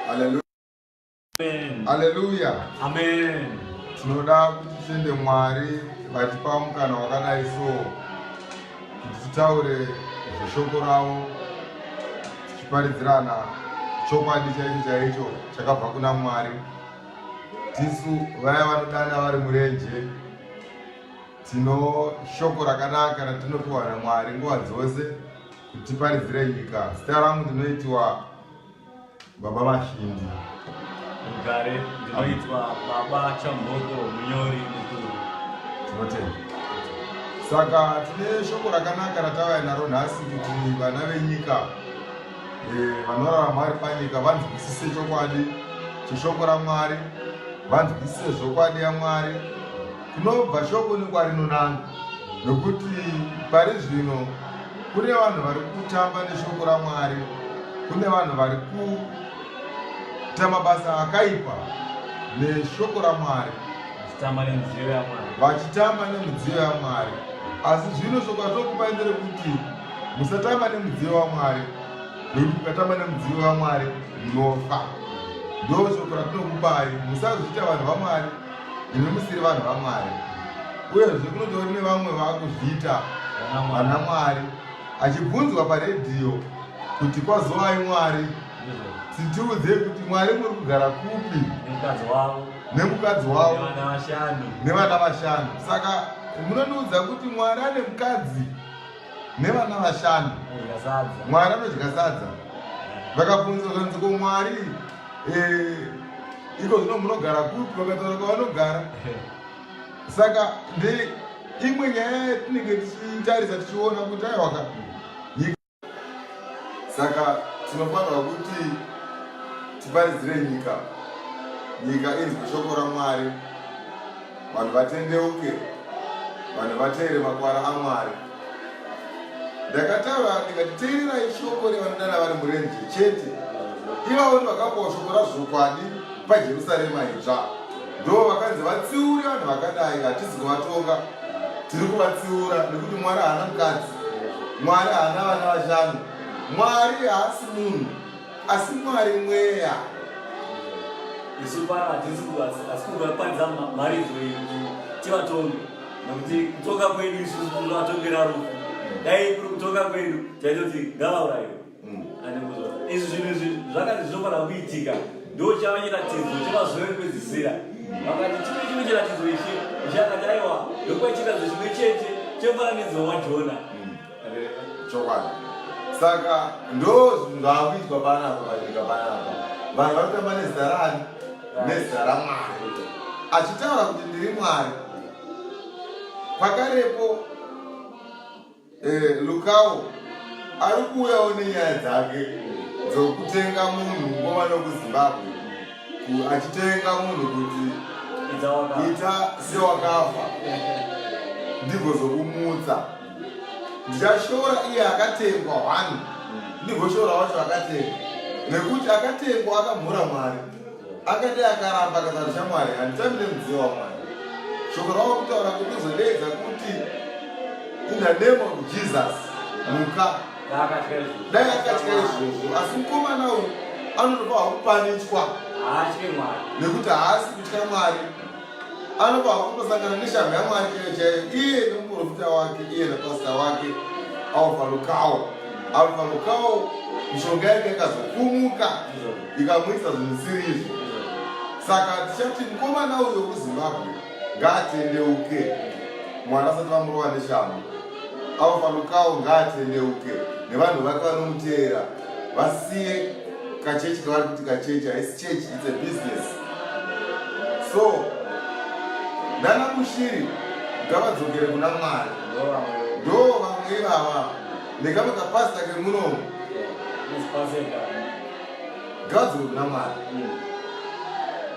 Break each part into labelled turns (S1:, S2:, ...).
S1: Hallelujah.
S2: Amen. Hallelujah.
S1: Amen.
S2: Tinoda
S1: kuti tiende Mwari vatipa mukana wakadai so kuti titaure zveshoko ravo tichiparidzirana chokwadi chaicho chaicho chakabva kuna Mwari. Tisu vaya vanodana vari murenje tino shoko rakanaka ratinopiwa naMwari nguva dzose Kutiparidzira nyika. Zita rangu ndinoitiwa Baba Mashindi. Mugare
S2: ndinoitwa Baba Chamboko munyori mukuru.
S1: Tinotenda. Saka tine shoko rakanaka ratavaya naro nhasi kuti vana venyika eh, vanorarama vari panyika vanzwisise chokwadi cheshoko raMwari, vanzwisise zvokwadi yaMwari kunobva shoko nekwarinonanga, nokuti pari zvino Kune vanhu vari kutamba neshoko raMwari, kune vanhu vari kuita mabasa akaipa neshoko raMwari, vachitamba nemudziyo yaMwari. Asi zvino shoko ratokupai nderekuti musatamba nemudziyo waMwari, nekuti mukatamba nemudziyo waMwari munofa. Ndo shoko ratinokupai, musazviita vanhu vaMwari. imi musiri vanhu vamwari uyezve kunotori nevamwe vakuzviita vana mwari achibvunzwa paredhiyo kuti kwazovai mwari titiudzei kuti mwari muri kugara kupi nemukadzi wavo nevana vashanu saka munondiudza kuti mwari ane mukadzi nevana vashanu mwari anodya sadza vakabvunza zvanzi ko mwari eh, iko zvino munogara kupi vakataura kwavanogara saka ndeimwe nyaya yatinenge tichitarisa tichiona kuti aiwaka saka tinofanirwa kuti tiparidzire nyika nyika inzwe shoko ramwari vanhu vatendeuke vanhu vateere makwara amwari ndakataura ndikati teererai shoko revanodana vari murenje chete ivavo ndi vakapawo shoko razvokwadi pajerusarema idzva ndo vakanzi vatsiuri vanhu vakadai hatizi kuvatonga tiri kuvatsiura nekuti mwari haana mukadzi mwari haana vana vashanu mwari haasi munhu asi mwari mweya
S2: isu pano hatisi asi kungakwanisa mari izoi tivatonge nokuti kutonga kwedu isu kuvatongera rufu dai kuri kutonga kwedu taitoti ngavaurayiwe mm. anekuzoa izvi zvinhu izvi zvakati zvinofanira kuitika ndo chava chiratidzo chemazuva ekupedzisira vakati chimwe chimwe chiratidzo ichi ichakati aiwa ndokuva chiratidzo chimwe chete chemufananidzo wajona
S1: chokwadi saka ndo zvinhu zvaakuitwa panapa panyika panapa vanhu vanotamba nezita rani nezita ramwari achitaura kuti ndiri mwari pakarepo eh, lukawo ari kuuyawo nenyaya dzake dzokutenga munhu ngova nokuzimbabwe achitenga munhu kuti ita sewakafa ndigozokumutsa ndashora iye akatengwa hwani ndigoshora wacho akatengwa nekuti akatengwa akamhura mwari akadai akaramba akazara chamwari handitambi nemudziyo wamwari shoko rava kutaura kuti uzodeedza kuti in the name of jesus muka dai akatya izvozvo asi mukomana uyu anotopa hwakupanichwa nekuti haasi kutya mwari Anopa kutosangana neshamhu yaMwari iyo chaiyo iye nemuprofita wake iye nepasita wake Alfa Lukawo. Alfa Lukawo mishonga yake yakazokumuka ikamuisa zvimusiri izvi. Saka tichati mukomana uyo kuZimbabwe ngaatendeuke mwana asati vamurova neshamhu. Alfa Lukawo ngaatendeuke nevanhu vake vanomuteera vasiye kachechi kavari kuti kachechi haisi chechi its a business so ndana mushiri ngavadzokere kuna mwari ndo vamwe ivava nekamwe kapasita kemunomu ngavadzokere kuna mwari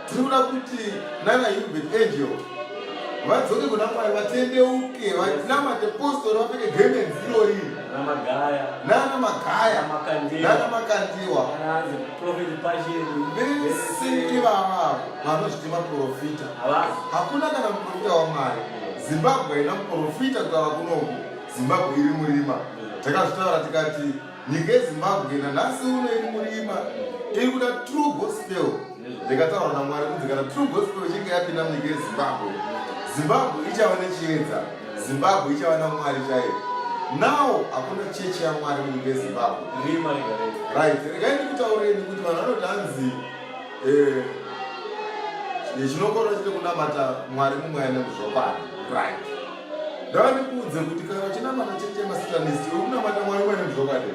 S1: tiri kuda kuti nana hubert angel vadzoke kuna mwari vatendeuke vanamate postori vapfeke gemenzi irori nana magaya nana makandiwa vese ivavavo vanozviti maprofita hakuna kana muprofita wamwari zimbabwe haina muprofita kutava kunoku zimbabwe iri murima takazvitaura tikati nyika yezimbabwe nanhasi uno iri murima iri kuda true gospel ndikataura namwari kuti kana true gospel ichinge yapinda munyika yezimbabwe zimbabwe ichava nechiedza zimbabwe ichava namwari chaiyo now hakuna chechi yamwari munyika yezimbabwe right regai ndikutaureni kuti vanhu vanoti hanzi eh, chinokorwa chiri kunamata mwari mumwe aine muzvokwadi right ndava ndikuudze kuti kana vachinamata chechi yemasitanisi uri kunamata mwari mumwe aine muzvokwadi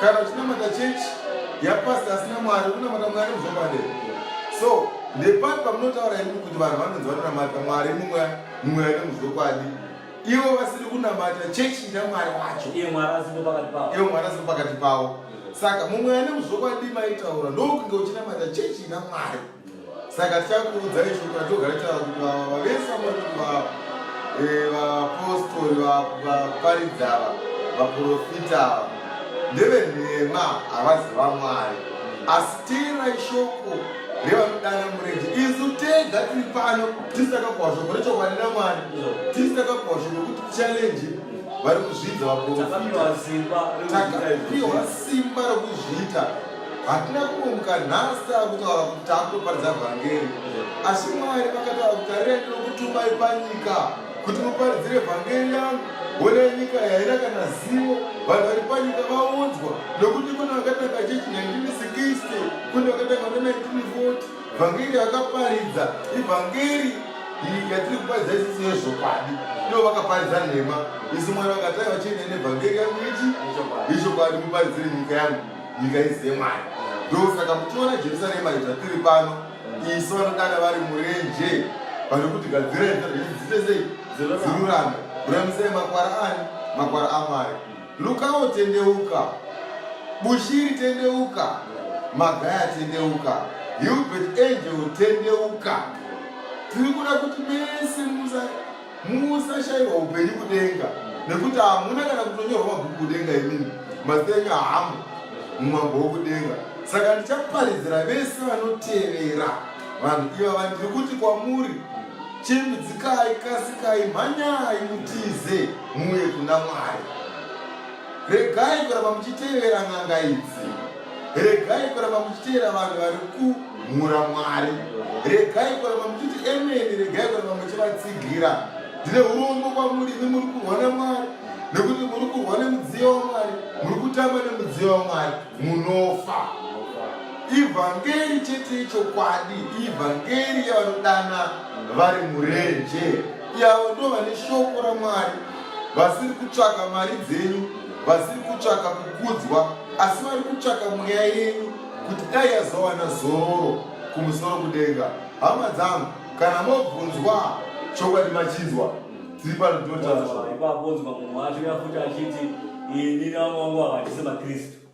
S1: kana uchinamata church yapasta asina mwari unamata mwari muzvokwadi so nepati pamunotaura imimi kuti vanhu vanonzi vanonamata mwari mumwe mumwe ane muzvokwadi ivo vasiri kunamata chechi ina mwari wacho
S2: ivo mwari asiri
S1: pakati pavo saka mumwe ane muzvokwadi maitaura ndokunge uchinamata chechi ina mwari saka tichakuudzai chokwadi togara taura kuti vava vavese vamakuti vava eh, vapostori vaparidzi ava vaprofita ava ndevenhema havazi vamwari asi teerai shoko revanodana murenje isu tega tiri pano tisakakuhwa shoko rechokwadi namwari tisakakuhwa shoko kuti challenji vari kuzvidza vaprofita takapiwa simba rokuzviita hatina kumuka nhasi tava kutaura kuti takutoparidza vhangeri asi mwari vakataura kuti arira ndinokutumai panyika kuti muparidzire vhangeri yangu hona nyika yaina kana zivo vanhu vari panyika vaudzwa nokuti kune vakatanga chechi 1960 kune vakatanga ne 1940 vhangeri yakaparidza ivhangeri yatiri kuparidza isisi yezvokwadi ndo vakaparidza nhema isi mwari vakatanga vachine nevhangeri yangu ichi ichokwadi muparidzire nyika yangu nyika idzi dzemwari ndosaka muchiona jerusarema zvatiri pano isu vanodana vari murenje vari kuti gadzirai dzite sei dzirurame ruramisai makwara ani makwara amwari lukawo tendeuka bushiri tendeuka magaya tendeuka hilbert angel tendeuka tiri kuda kuti mese musa Musashaiwa upenyu kudenga nekuti hamuna kana kutonyorwa mabhuku kudenga imini mazita enyu hamu mumambo wokudenga saka ndichaparidzira vese vanotevera vanhu iva vandiri kuti kwamuri chimbidzikai kasikai mhanyai mutize muuye kuna mwari Regai kuramba muchitevera n'anga idzi. Regai kuramba muchitevera vanhu vari kumhura Mwari. Regai kuramba muchiti emeni, regai kuramba muchivatsigira. Ndine urombo kwamuri, imi muri kurwa naMwari, nekuti muri kurwa nemudziyo waMwari, muri kutamba nemudziyo waMwari, munofa. Ivhangeri chete ichokwadi, ivhangeri yavanodana vari murenje, yavo ndovane shoko raMwari. vasiri kutsvaka mari dzenyu vasiri kutsvaka kukudzwa asi vari kutsvaka mweya yenyu kuti dai yazowana zororo kumusoro kudenga hama dzangu kana mobvunzwa chokwadi machinzwa tiri pano tinotaura ipapo onzwa munhu wacho
S2: yafuti achiti ini navamwe wangu havachisi makristu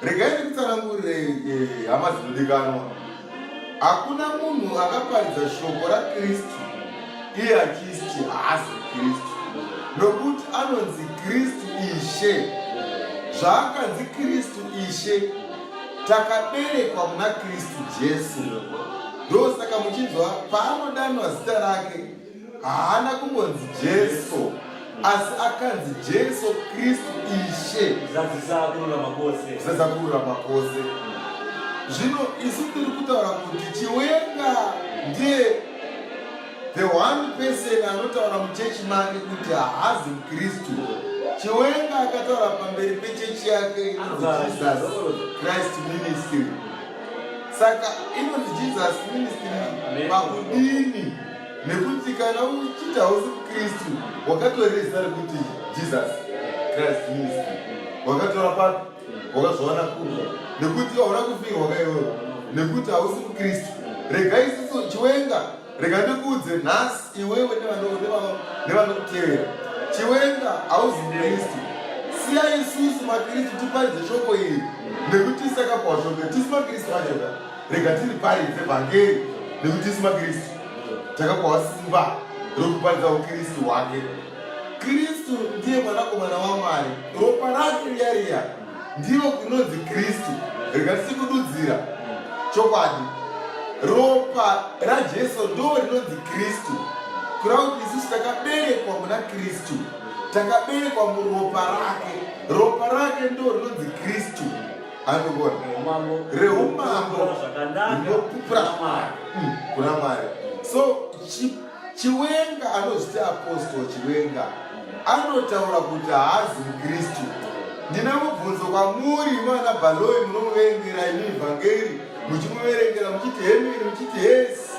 S1: regai ndikutsanangurirei eh, hama dzinodikanwa hakuna munhu akaparidza shoko rakristu iye achiti haasi kristu nokuti anonzi kristu ishe zvaakanzi kristu ishe takaberekwa muna kristu jesu ndosaka muchinzwa paanodanwa zita rake haana kungonzi jesu asi akanzi jesu kristu ishe zadzisa kururama
S2: kwose zadzisa
S1: kururama kwose zvino isu tiri kutaura kuti chiwenga ndiye the one person anotaura muchechi make kuti haazi mukristu chiwenga akataura pamberi pechechi yake inonzi jesus christ ministry saka inonzi jesus ministry pakudini nekuti kana uchiti hausi mukristu wakatora zita rekuti jesus christ ministry wakatora papi wakazviwana kuno nekuti hauna kufinga wakaiona nekuti hausi mukristu rega isiso chiwenga rega ndikuudze nhasi iwewe nevanokutevera chiwenga hausi mukristu siya isusu makristu tiparidze shoko iri nekuti isakapwa shoko tisi makristu vachoka rega tiriparidze vhangeri nekuti isu makristu takakohwa simba rokuparidza ukristu hwake kristu ndiye mwanakomana wamwari ropa rake riya riya ndivo kunonzi kristu rega tisikududzira chokwadi ropa rajesu ndo rinonzi kristu kurava kuti isusu takaberekwa muna kristu takaberekwa muropa rake ropa rake ndo rinonzi kristu anogona reumambo hunopupura mwari mm, kuna mwari so chiwenga anozviti apostol chiwenga anotaura kuti haazi mukristu ndina mubvunzo kwamuri imana bhaloi munomuvengera imi vhangeri muchimuverengera muchiti hemiri muchiti hesi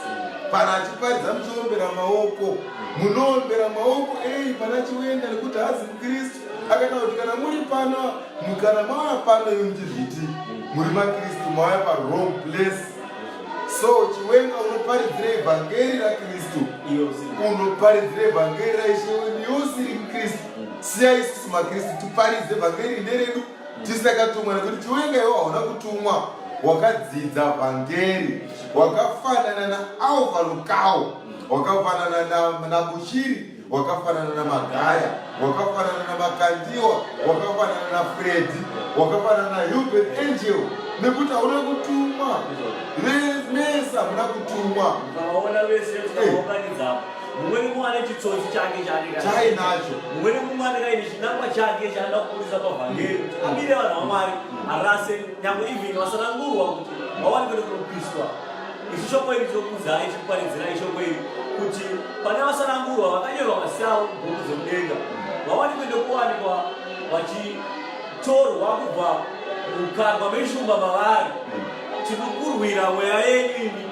S1: pana achiparidza muchiombera maoko munoombera maoko ei pana chiwenga nekuti haazi mukristu akana kuti kana muri pano mukana mauya pano imi muchizviti muri makristu mauya parong place so chiwenga unoparidzira evhangeri rakristu unoparidzira evhangeri raishe wedu yosiri mkristu siya isusu makristu tiparidze vhangeri nderedu tisakatumwa nekuti chiwenga iwo hauna kutumwa wakadzidza vhangeri wakafanana naalvalukawo wakafanana nabushiri wakafanana na magaya wakafanana na makandiwa wakafanana na fredi wakafanana na hubert angel nekuti hauna kutumwa mesa muna kutumwa mumweni
S2: mumwe ane chitsotsi chake chainacho
S1: mumweni mumwe anenge
S2: aine chinangwa chake chaanoda kukurisa pavhangeri kuti mm. amire vanhu vamwari arase nyangwe even vasanangurwa kuti vawane kuenda kunopiswa Isu shoko iri tokuzai chikuparidzirai shoko iri kuti pane vasanangurwa vakanyorwa mazita avo mubhuku dzemudenga vawanikwe nekuwanikwa vachitorwa kubva mukarwa meshumba mavari tikukurwira mweya yenyu imi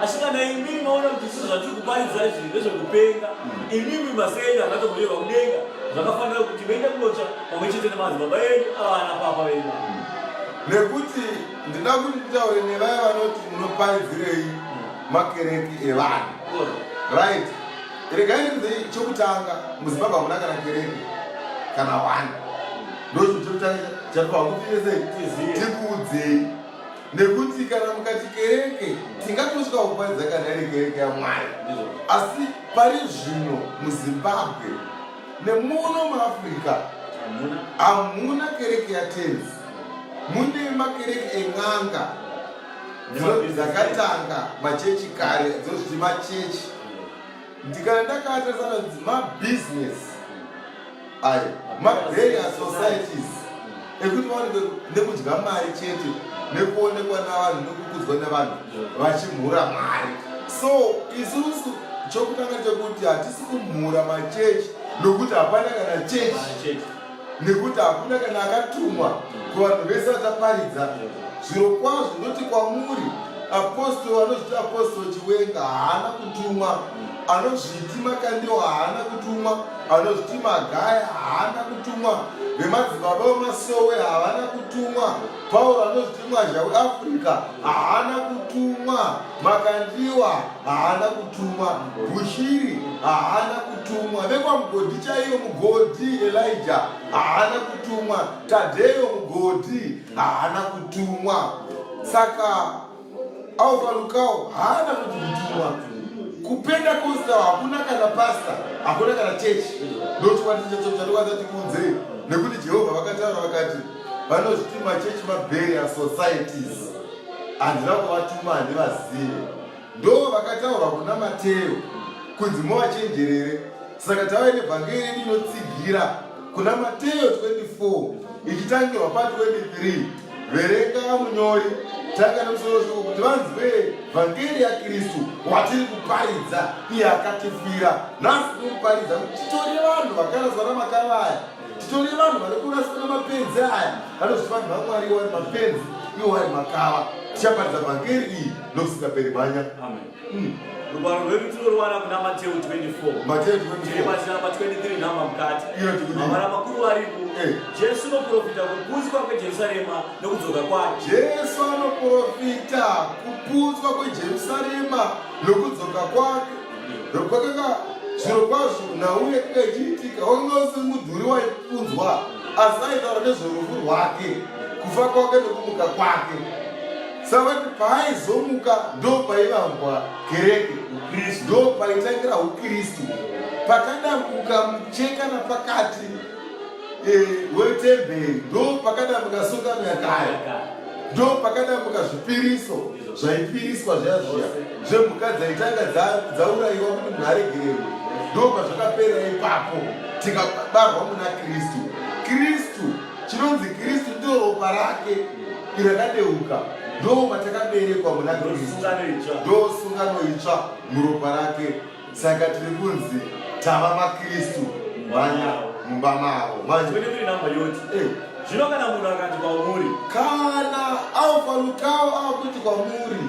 S2: asi kana imimi maona kuti zviso zvatiri kuparidza izvi ndezvekupenga imimi masenyu akatoburirwa mudenga zvakafanira kuti vende kunotsva pamwe chete nemadzibaba enyu avana papa venyu nekuti
S1: ndinoda kuti titaure nevaya vanoti munoparidzirei makereki evanhu right regai ndikudzei chokutanga muzimbabwe hamuna kana kereki kana wani ndozvo chokutanga chatovakufinesei tikuudzei nekuti kana mukati kereke tingatosvika kuparidza kana iri kereke yamwari asi pari zvino muzimbabwe nemuno muafrica hamuna kereke yatenzi mune makereke en'anga dzakatanga machechi kare dzozviti machechi ndikana ndakatarisana mabhizinesi ayo mabreria societies ekuti vaonekwe nekudya mari chete nekuonekwa navanhu nekukudzwa nevanhu vachimhura mari so isusu chokutanga chekuti hatisi kumhura machechi nokuti hapana kana chechi nekuti hakuna kana akatumwa kuvanhu vese vataparidza zviro kwazvo noti kwamuri apostol anozviti apostol chiwenga haana kutumwa anozviti makandiwa haana kutumwa anozviti magaya haana kutumwa vemadzibaba vemasowe havana kutumwa pauro anozviti mwazha weafrica haana kutumwa makandiwa haana kutumwa bushiri haana kutumwa vekwamugodhi chaiyo mugodhi elija haana kutumwa tadheyo mugodhi haana kutumwa saka au palukawo haana kuti kutumwa kupenda kusta hakuna kana pasta hakuna kana chechi ndotiwatichatochatokwazati kunzei nekuti jehovha vakataura vakati vanozviti machechi mabheri asocieties handina kuvatuma handivazive ndo vakataurwa kuna mateo kunzi movachenjerere Saka tave nevhangeri yedu inotsigira kuna Mateyo 24 ichitangirwa pa 23 verenga munyori tanga nemusoro shoko kuti vanzwe vhangeri yakristu watiri kuparidza iye akatifira nhasi tinokuparidza kuti titore vanhu vakaraswa namakava aya titore vanhu vane kuraswa nemapenzi aya vanozviti vanhu vamwari iwari mapenzi iwari makava tichaparidza vhangeri iyi nokusingaperi mhanya
S2: rugwaro rwedu tinoruwana kuna mateu 24tiribachira pa 23 nhamba mukati mavara makuru varipo eh. jesu unoprofita kuputswa kwejerusarema nokudzoka kwake jesu
S1: anoprofita kuputswa kwejerusarema nokudzoka kwake rokwakanga zviro kwazvo nauye kanga ichiitika wakanga usiri mudhuri waipunzwa asi aitaura nezvorufu rwake kufa kwake nokumuka kwake saka paaizomuka ndopaivambwa kereke ukristu ndopaitangira ukristu pakadambuka mucheka napakati eh, wetemberi ndopakadambuka sungano yakaya ndopakadambuka zvipiriso zvaipiriswa zviya zviya zvemhuka dzaitanga dzaurayiwa kuti munhu aregererwe ndopazvakaperera ipapo tikabarwa muna kristu kristu chinonzi kristu ndiwo ropa rake irakadeuka ndo matakaberekwa muna kristu ndo sungano itsva muropa rake saka tiri kunzi tava makristu manya mumba mavo eh. zvino
S2: kana munhu akati kwamuri kana
S1: alfa lukao akuti kwamuri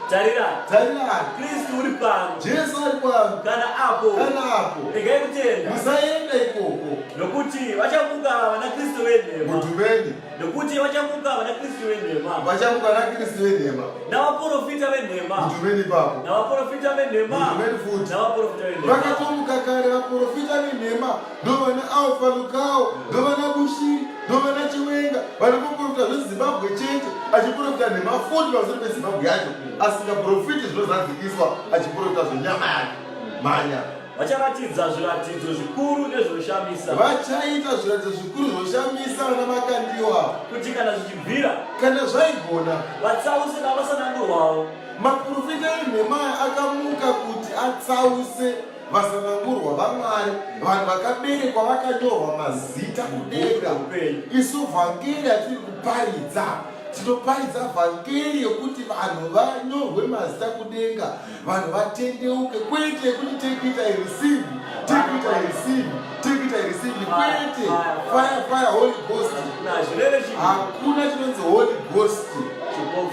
S1: tarira
S2: tarira kristu uri pano jesu ari pano
S1: kana apo kana
S2: apo regai kutenda musaenda ikoko
S1: Nokuti
S2: vachamuka vanaKristu venhema. Mudhuveni. Nokuti
S1: vachamuka
S2: vanaKristu venhema. Vachamuka vanaKristu
S1: venhema. Navaporofita
S2: venhema. Mudhuveni ipapo.
S1: Navaporofita venhema.
S2: Mudhuveni futi.
S1: Navaporofita venhema.
S2: Vakatomuka kare
S1: vaporofita venhema ndovana Alfa Lukao ndovana Bushiri ndovana Chiwenga vari kuporofita zveZimbabwe chete achiporofita nhema futi pamusoro peZimbabwe yacho asingaporofiti zvinozadzikiswa achiporofita zvenyama yake mhanya Vacharatidza
S2: zviratidzo zvikuru nezvinoshamisa. Vachaita zviratidzo
S1: zvikuru zvinoshamisa vana vakandiwa. Kuti kana
S2: zvichibvira. Kana zvaigona.
S1: Vatsause
S2: navasanangurwawo. Maprofita
S1: eNehemaya akamuka kuti atsause vasanangurwa vaMwari, vanhu vakaberekwa vakanyorwa mazita kudenga. Isu vhangeri yatiri kuparidza tinoparidza vhangeri yekuti vanhu vanyorwe mazita kudenga. vanhu vatendeuke kwete kuti take it i receive take it i receive take it i receive kwete fire fire holy ghost hakuna chinonzi holy ghost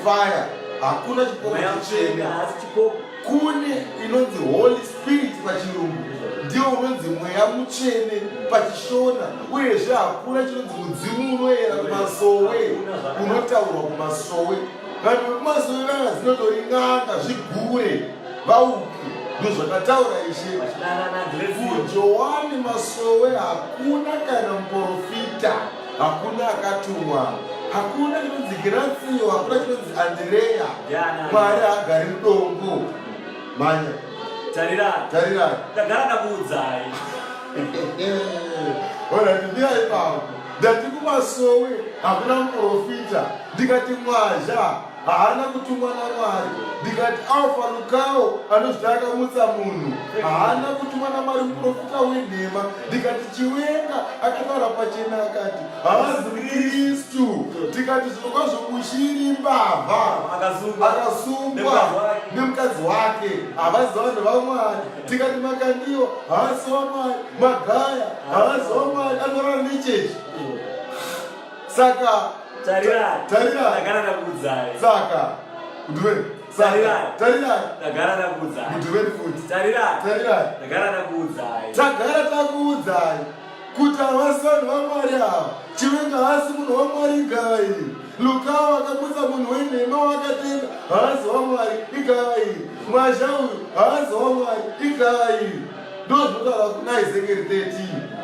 S1: fire hakuna chipoka chichena kune inonzi holy spirit pachirungu ndiwo unonzi mweya mutsvene pachishona uyezve hakuna chinonzi mudzimu unoyera kumasowe unotaurwa kumasowe vanhu vekumazuva vana dzinotoringana zvigure vauki ndozvakataura ishe kujoani masowe hakuna kana muprofita hakuna akatumwa hakuna chinonzi giratsiyo hakuna chinonzi andireya mwari hagari mudongo manya tarirai tarirai tagara
S2: ndakuudzai
S1: ona ndimira ipapo ndati kumasowe hakuna muprofita ndikati mwazha haana kutumwa namwari ndikati alfa lukawo anozviti akamutsa munhu haana kutumwa namwari muprofita wenhema ndikati chiwenga akataura pachena akati haazi kristu ndikati zvinokwazvo kushiri mbavha akasungwa nemukadzi wake havazi vanhu vamwari tikati makandiwa haasi wamwari magaya haasi wamwari anorara nechechi saka
S2: tarirai tarirai ndagara ndakuudzai saka
S1: ndivei tagara
S2: takuudzai tagara
S1: takuudzai kuti havasi vanhu vamwari ava chivenga haasi munhu wamwari igava iri lukava vakabudza munhu wenhema wakatenga haasi wamwari igava iri mwazha uyu haasi wamwari igava iri ndozvinotaura kuna ezekeri 13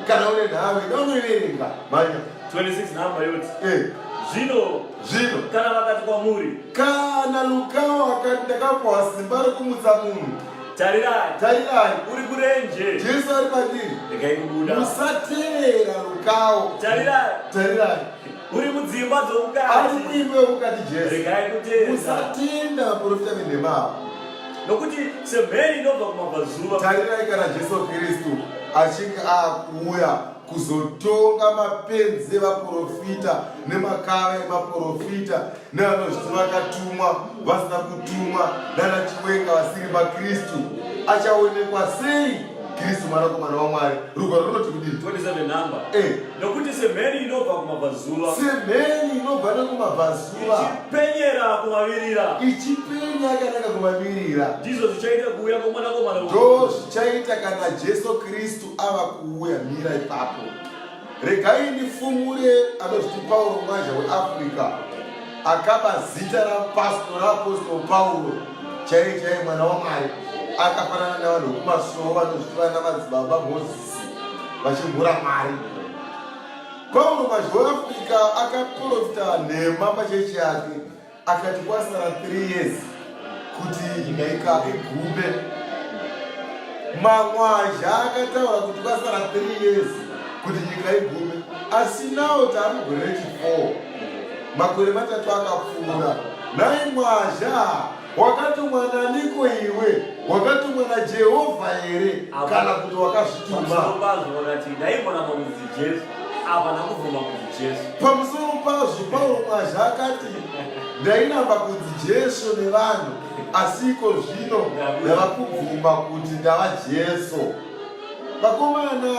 S1: kana une nhavo ida unoiverenga manya 26 nhamba
S2: yoti eh. zvino zvino kana vakati kwamuri kana
S1: lukava ndakapuwa simba rekumutsa munhu Tarirai. Tarirai. Uri kurenje.
S2: Jesu ari pandiri.
S1: Regai kubuda.
S2: Musatevera
S1: rukawo. Tarirai. Tarirai. Uri
S2: mudzimba dzomukati. Ari
S1: muimba
S2: yomukati
S1: Jesu. Regai kutenda.
S2: Musatenda vaprofita
S1: venhema ava. Nokuti
S2: semheni inobva kumabvazuva. Tarirai kana Jesu
S1: Kristu achinge akuuya. kuzotonga mapenzi evaprofita nemakava emaprofita nevanozviti vakatumwa vasina kutumwa nana chiwenga vasiri makristu achaonekwa sei kristu mwanakomana wamwari rugwaro runoti kudii eh.
S2: nokuti semheni inobva kumabvazuva semheni inobva
S1: nekumabvazuva ichipenyera
S2: kumavirira ichipenya
S1: yakanaka kumavirira ndizvo zvichaita
S2: kuuya kwomwanakomana ndo zvichaita
S1: kana jesu kristu ava kuuya mira ipapo regai ndifumure anozviti pauro mwaja weafrica akaba zita rapastor raapostol pauro chaiye chaiye mwana wamwari akafanana navanhu vekumasowo vanozviti vana madzibaba mozisi vachimhura mari pauro mwaja weafrica akaprofita nhema pachechi yake akati kwasara 3 years kuti nyika igume mamwazha akataura kuti kwasara 3 years kuti nyika igume asi nawo taari gore rechi4 makore matatu akapfuura nai mwazha wakatumwa naniko iwe wakatumwa najehovha here kana kuti wakazvituma Havana kubvuma kuti Jesu. Pamusoro pazvo, Pauro mazhi akati, Ndainamba kunzi Jesu nevanhu, asi iko zvino ndava kubvuma kuti ndava Jesu. Vakomana,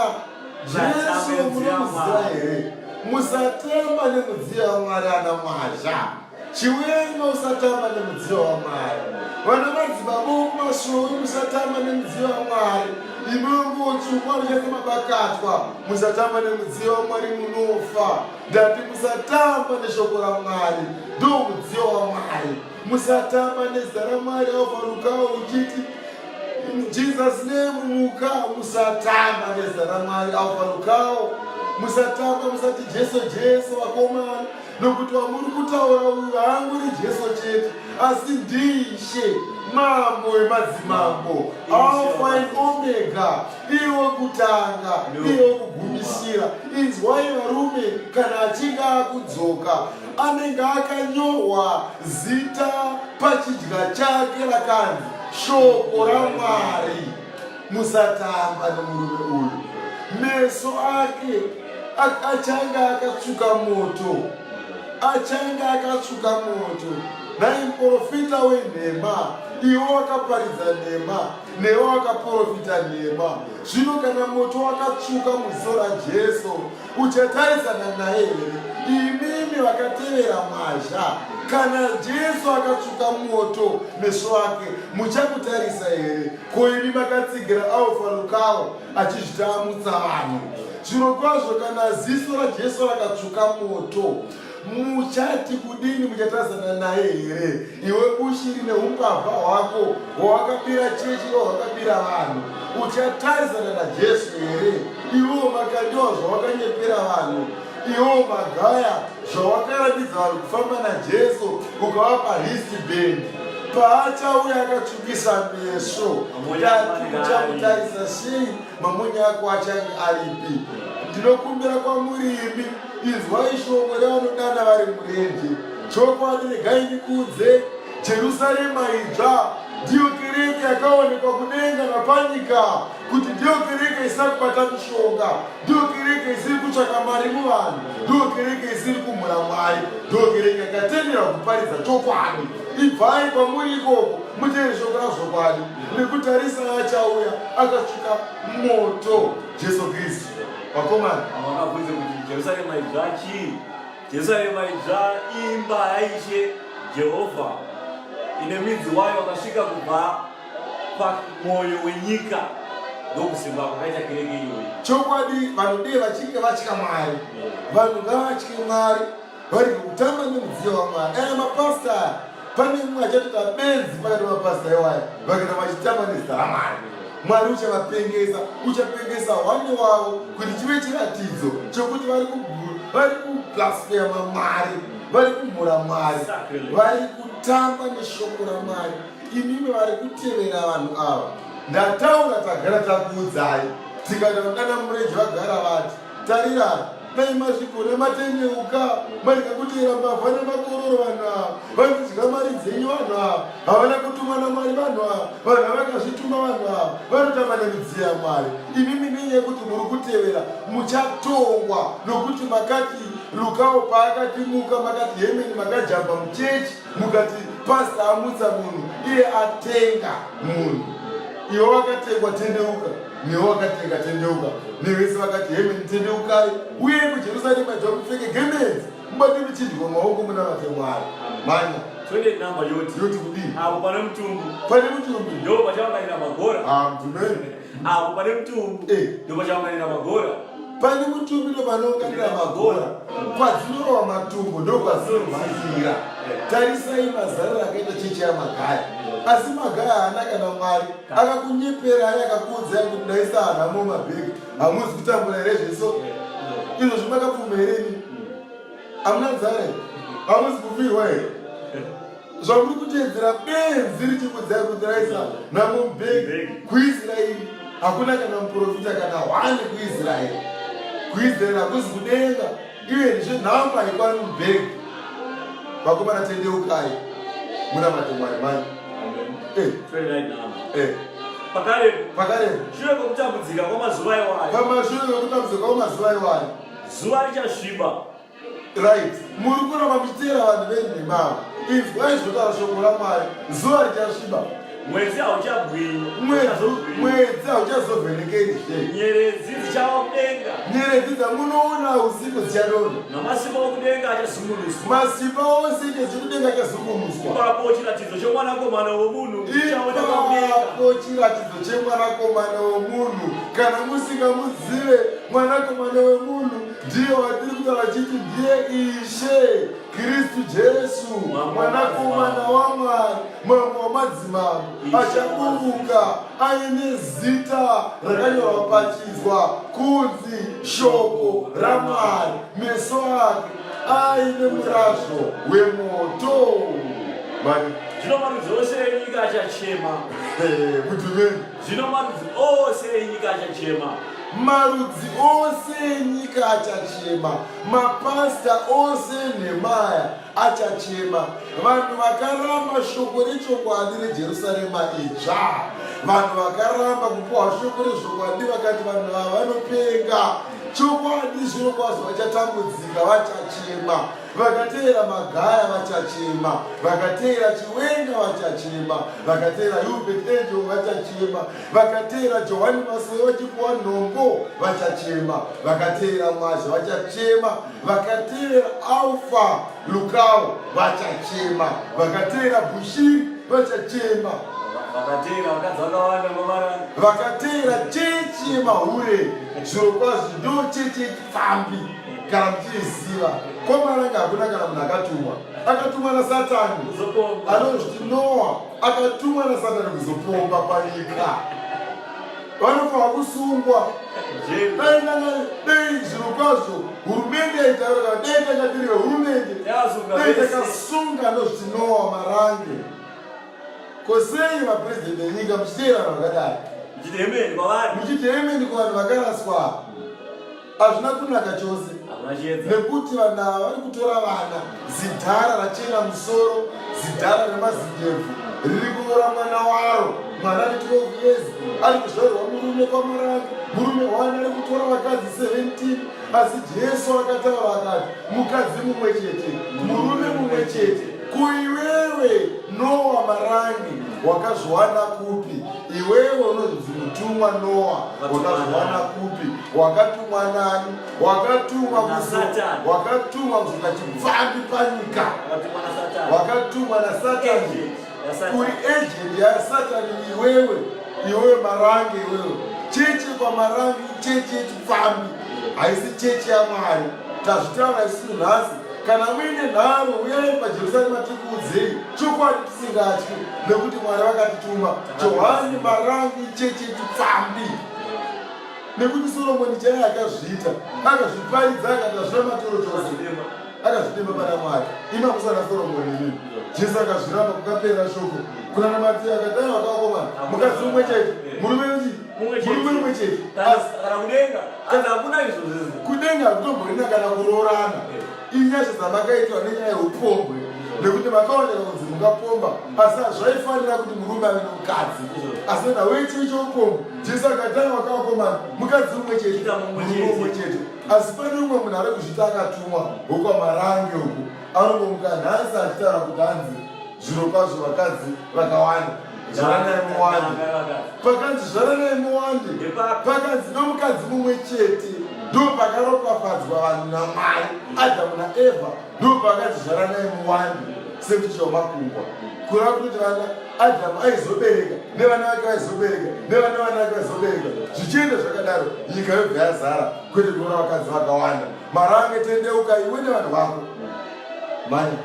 S1: Jesu munomuziva here? Musatema nemudziyo yaMwari ana mwazha. Chiwenga usatamba nemudziyo waMwari. Vana madzibaba kumashowi musatamba nemudziyo waMwari. Imambo chikwani chese mabakatwa musatamba nemudziyo waMwari munofa. Ndati musatamba neshoko raMwari ndo mudziyo waMwari. Musatamba nezita raMwari aufarukawo uchiti Jesus name muka musatamba nezita raMwari aufarukawo musatamba musati Jesu Jesu vakomana nokuti wamuri kutaura uyu haanguri jesu chete asi ndishe mambo wemadzimambo alfa and omega iwo kutanga iwo kugumisira inzwai varume kana achinge akudzoka anenge akanyorwa zita pachidya chake rakanzi shoko ramwari musatamba nemurume uyu meso ake achange akatsvuka moto achange akatsvuka moto nai muprofita wenhema iwo wakaparidza nhema newo wakaprofita nhema zvino kana moto wakatsvuka muziso rajesu uchatarisana naye here imimi vakatevera mwazha kana jesu akatsvuka mwoto meso ake muchakutarisa here ko imi makatsigira alfa lukawo achizvitamutsa vanhu zviro kwazvo kana ziso rajesu rakatsvuka mwoto muchati kudini muchatadzana naye here iwe ushiri neumbavha hwako hwawakabira chechi no hwakabira vanhu uchatarisana najesu here iwewo makandiwa zvawakanyepera vanhu iwewo magaya zvawakaratidza vanhu kufamba najesu ukavapa histi bendi paachauya akatsvukisa meso tati uchamutarisa sei mamunye ako achange aripi ndinokumbira kwamurimi Inzwai shoko revanodana vari murenje, chokwadi regai ndikuudze, Jerusarema idzva ndiyo kereke yakaonekwa kudenga napanyika, kuti ndiyo kereke isina kubata mishonga, ndiyo kereke isiri kutsvaka mari muvanhu, ndiyo kereke isiri kumhura Mwari, ndiyo kereke yakatendera kuparidza chokwadi. Ibvai kwamuri ikoko muteere shoko razvokwadi, nekutarisa achauya akasvika moto. Jesu Kristu. Vakomana. Havakabvunze kuti
S2: Jerusarema idzva chii? Jerusarema idzva imba yaishe Jehovha ine midzi wayo wakasvika kubva pamwoyo wenyika ndokusimba kwakaita kereke iyoyi. Chokwadi vanodei
S1: vachinge vatya Mwari. Vanhu ngavatye Mwari. vari kutamba nemudziyo wamwari aya mapasta aya pane mumwe achatoita benzi pakati mapasta iwaya vakaita vachitamba nezita ramwari mwari uchavapengesa uchapengesa hwani wavo kuti chive chiratidzo chokuti vari kublasfema mwari vari kumhura mwari vari kutamba neshoko ramwari imimi vari kutevera vanhu ava ndataura tagara takuudzai tikati vangana mureji vagara vati tarira dai mazvigona matendeuka marega kutera mbavha nemakororo vanhu ava vanodya mari dzenyu vanhu ava havana kutumwa namwari vanhu ava vanhu havakazvituma vanhu ava vanotamba nemidziyo yamwari imi minei yekuti muri kutevera muchatongwa nokuti makati lukawo paakatimuka makati hemeni makajamba muchechi mukati pasta amutsa munhu iye atenga munhu iwe wakatengwa tendeuka newe wakati ndikatendeuka nevese vakati hemeni tendeukai uye kujerusarema jwamupfeke gemenzi mubate muchidyiwa maoko muna vake mwari manya yoti kudii apo
S2: pane mutumbu pane
S1: mutumbu
S2: ndo
S1: vachavanganira
S2: magora amtumeni
S1: ah, apo pane
S2: mutumbu eh. ndo vachavanganira magora pane mutumbi
S1: ndovanounganira magora kwadzinorova matumbu ndokwadzinorwazira eh. tarisai mazariro akaita chechi yamagaya asi magaya haana kana mwari akakunyeperai akakuudzai kuti ndaisa hanhamo mabhegi hamuzi kutambura here zveso izvo zvimakapfuma here ini hamuna nzara here hamuzi kufirwa here zvamuri kuteedzera benzi richikudzai kuti raisa nhamo mubhegi kuisraeri hakuna kana muprofita kana hwani kuisraeri kuisraeri hakuzi kudenga Even zvenhamba yekwari mubhegi vakomana tendeukai muna matemwari mani eh. eh. pakarepo pakarepo shure
S2: kwekutambudzika kwamazuva iwayo pamashure kwekutambudzika
S1: kwamazuva iwayo zuva richasviba
S2: right
S1: muri kuramba kuteera vanhu venhemavo inzwai zvinotaura shoko ramwari zuva richasviba
S2: mwedzi hauchagwinyi
S1: mwedzi hauchazovhenekeni nyeredzi dzichava
S2: kudenga nyeredzi dzangunoona
S1: usiku dzichanona namasimba okudenga
S2: achazungunuswa masimba ose
S1: ikezvi kudenga achazungunuswa ipapo chiratidzo
S2: chemwanakomana womunhu ipapo chiratidzo
S1: chemwanakomana womunhu kana musingamuzive mwanakomana wemunhu ndiye watiri kutaura chiti ndiye ishe Kristu Jesu mwanakomana waMwari mambo wamadzimambo achaburuka aine zita rakanyorwa pachidzwa kunzi shoko raMwari meso ake aine murazvo wemoto
S2: zvino marudzi ose enyika achachema eh, kuti
S1: vei Zvino marudzi
S2: ose enyika achachema. Marudzi
S1: ose enyika achachema. Mapasita ose enhemaya achachema. Vanhu vakaramba shoko rechokwadi reJerusarema idzva. Vanhu vakaramba kupuwa shoko rezvokwadi vakati vanhu vava vanopenga. Chokwadi zvino kwazvo vachatambudzika vachachema. vakateera magaya vachachema vakateera chiwenga vachachema vakateera hubert angel vachachema vakateera johani masoe vachipuwa nhombo vachachema vakateera mwazha vachachema vakateera alfa lukao vachachema vakateera bushiri vachachema vakateera chechi yemahure zvirokwazvo ndo chechi pfambi kana muchiiziva komaranga hakuna kana munhu akatumwa akatumwa nasatani anozviti noa akatumwa nasatani kuzopomba panyika vanofanira kusungwa dai nanga dai zviro kwazvo hurumende yaitaura kana dai takatiri vehurumende dai takasunga anozviti noa marange Ko sei mapresident enyika muchiteera vanhu vakadai? Muchiti hemeni kwavari. Muchiti hemeni kwavanhu vakaraswa. Hazvina kunaka chose. Nekuti vanhu ava vari kutora vana zidhara rachena musoro zidhara remazindebvu riri kunyora mwana waro mwana ari 12 years ari kuzvairwa murume kwamarange murume wani ari kutora vakadzi 17 Asi Jesu akataura akati, mukadzi mumwe chete, murume mumwe chete, kuiwewe Noa marangi wakazviwana kupi? Iwewe unonzi mutumwa Noa, wakazviwana kupi? Wakatumwa nani? Wakatumwa kusatani, wakatumwa kusvika chipfambi panyika, wakatumwa nasatani. uri agent yasatani iwewe iwewe marange iwewe chechi kwamarange ichechi yechipfambi haisi chechi yamwari tazvitaura isiku nhasi kana uine nharo uyai pajerusarema tikuudzei chokwadi tisingatyi nekuti mwari vakatituma johani marange ichechi yechipfambi nekuti soromoni chaiye akazviita akazviparidza akatazvira matoro chose akazvitema pana mwari imakusana soromoni ini jesu akazviramba kukapera shoko kunana mati akadai vakakoma mukadzi umwe chete murume uchi murume umwe chete kudenga hakutomborina kana kuroorana inyasha dzamakaitwa nenyaya yeupombwe nekuti makaoneka kunzi mukapomba asi hazvaifanira kuti murume ave nomukadzi asi nawechiichoupombwe jesu akadai vakakoma mukadzi umwe chete murume umwe chete asi pane umwe munhu ari kuzviti akatumwa wokwamarange uku anongomuka nhasi achitaura kuti hanzi zviro kwazvo vakadzi vakawanda zvaranai muwande pakanzi zvaranai muwande pakanzi nomukadzi mumwe chete ndo pakaropafadzwa vanhu namwari adhamu naevha ndopakazvizvara naye muwani sekuti zvamakungwa kura kuti vana adhamu aizobereka nevana vake vaizobereka nevana vana vake vaizobereka zvichienda zvakadaro nyika yobva yazara kwete kuona vakadzi vakawanda mari ange tendeuka iwe nevanhu vako mani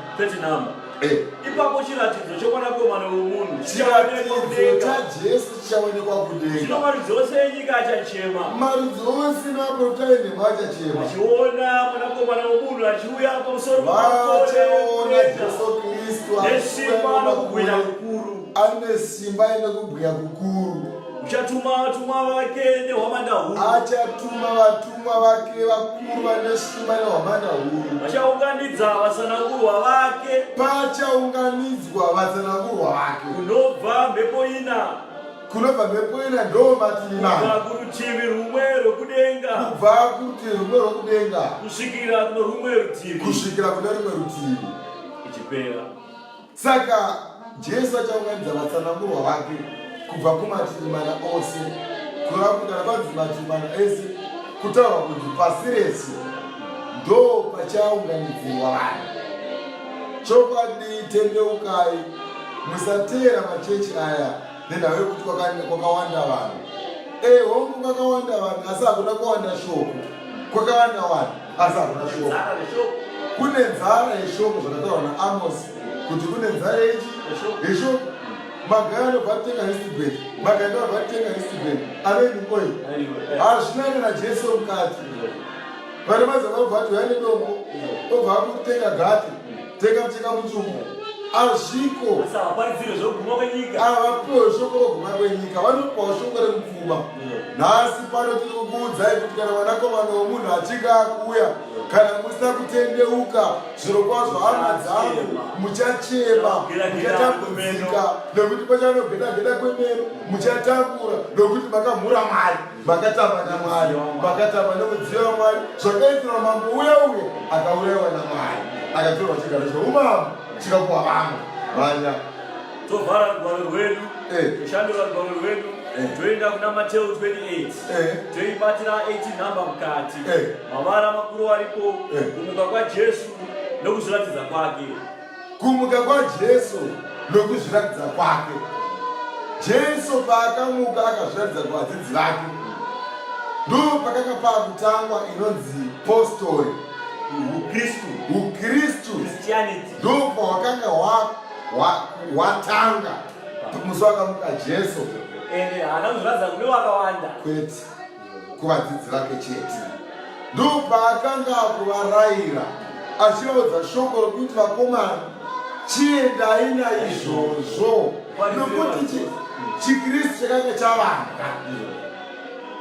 S1: eh.
S2: ipapo chiratidzo chokwanakomana wemunhu chiratidzo
S1: chajesu chichaonekwa kudenga. Zvino marudzi ose enyika
S2: achachema. Marudzi ose
S1: naprofita enhema achachema. Achiona
S2: mwanakomana womunhu achiuya pamusoro vachaona
S1: Jesu Kristu nesimba
S2: nokubwinya
S1: kukuru. Ane simba ine kubwinya
S2: kukuru. Uchatuma vatumwa vake nehwamanda huru. Achatuma vatumwa
S1: Vatumwa vake vakuru vane simba nehwamanda huru. Vachaunganidza
S2: vasanangurwa vake. Pachaunganidzwa
S1: vasanangurwa vake. Kunobva mhepo
S2: ina. Kunobva
S1: mhepo ina ndo mativi mana. Kubva kurutivi rumwe
S2: rwekudenga. Kubva kurutivi
S1: rumwe rwekudenga. Kusvikira kune
S2: rumwe rutivi. Kusvikira kune rumwe
S1: rutivi. Ichipera.
S2: Saka
S1: Jesu achaunganidza vatsanangurwa vake kubva kumativi mana ose kureva kuti kana panzi mativi mana ese kutaurwa kunzi pasi rese ndo pachaunganidzirwa vanhu chokwadi tendeukai musateera machechi aya nenhau yekuti kwakawanda vanhu ehongu kwakawanda vanhu asi hakuna kuwanda shoko kwakawanda vanhu asi hakuna shoko kune nzara yeshoko zvakataurwa naamosi kuti kune nzara yechi yeshoko magaya anobva atenga histibed magaya anobva atenga histibed aveni oil hazvina kana jesu mukati vane mazava obva ati uya nedombo obva akutenga gati Tekateka mutumo azviko asavaparidzire zvokuguma kwenyika avapiwe shoko roguma kwenyika vanopiwa shoko remupfuma nhasi pano tiri kukuudzai kuti kana mwanakomana womunhu achinge akuuya kana musina kutendeuka zviro kwazvo hama dzangu muchachema muchatambudzika nokuti pachanogedageda kwemeno muchatambura nokuti makamhura mari makatamba namwari makatamba nemudziyo wamwari zvakaitira mambo uya uye akaurayiwa namwari akatorwa chigaro cheumambo chikapuwa vamwe vanya tovhara
S2: rugwaro rwedu toshandura eh. rugwaro rwedu eh. toenda kuna mateo 28 eh. toibatira 18 number mukati mavara makuru aripo kumuka kwajesu nokuziratidza kwake kumuka
S1: kwajesu nokuzviratidza kwake jesu paakamuka akazviratidza kuvadzidzi vake ndo pakanga paakutangwa inonzi postori ukristu ukristu ndo pahwakanga hwatanga musi wakamuka jesu ende haana
S2: kuzviratidza kune wakawanda kwete kuvadzidzi
S1: vake chete ndopaakanga akuvaraira achivaudza shoko rokuti vakomana chiendai naizvozvo nokuti chikristu chakanga chavanga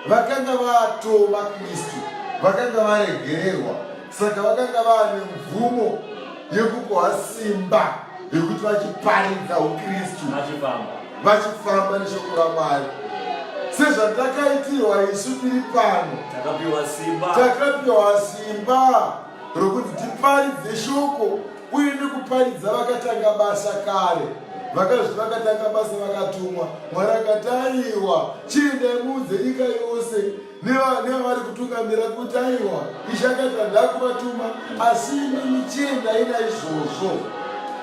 S1: vakanga vatova kristu vakanga varegererwa saka vakanga vane mvumo yekukoha simba yekuti vachiparidza ukristu vachifamba neshoko ramwari sezvatakaitirwa isu tiri pano takapiwa simba rokuti tiparidze shoko uye nekuparidza vakatanga basa kare vakazvi vakatanga basa vakatumwa mwari akataiwa chiendai muudze nyika yose nevari kutungamira kuti aiwa ichakaita ndakuvatuma asi imi michiendai naizvozvo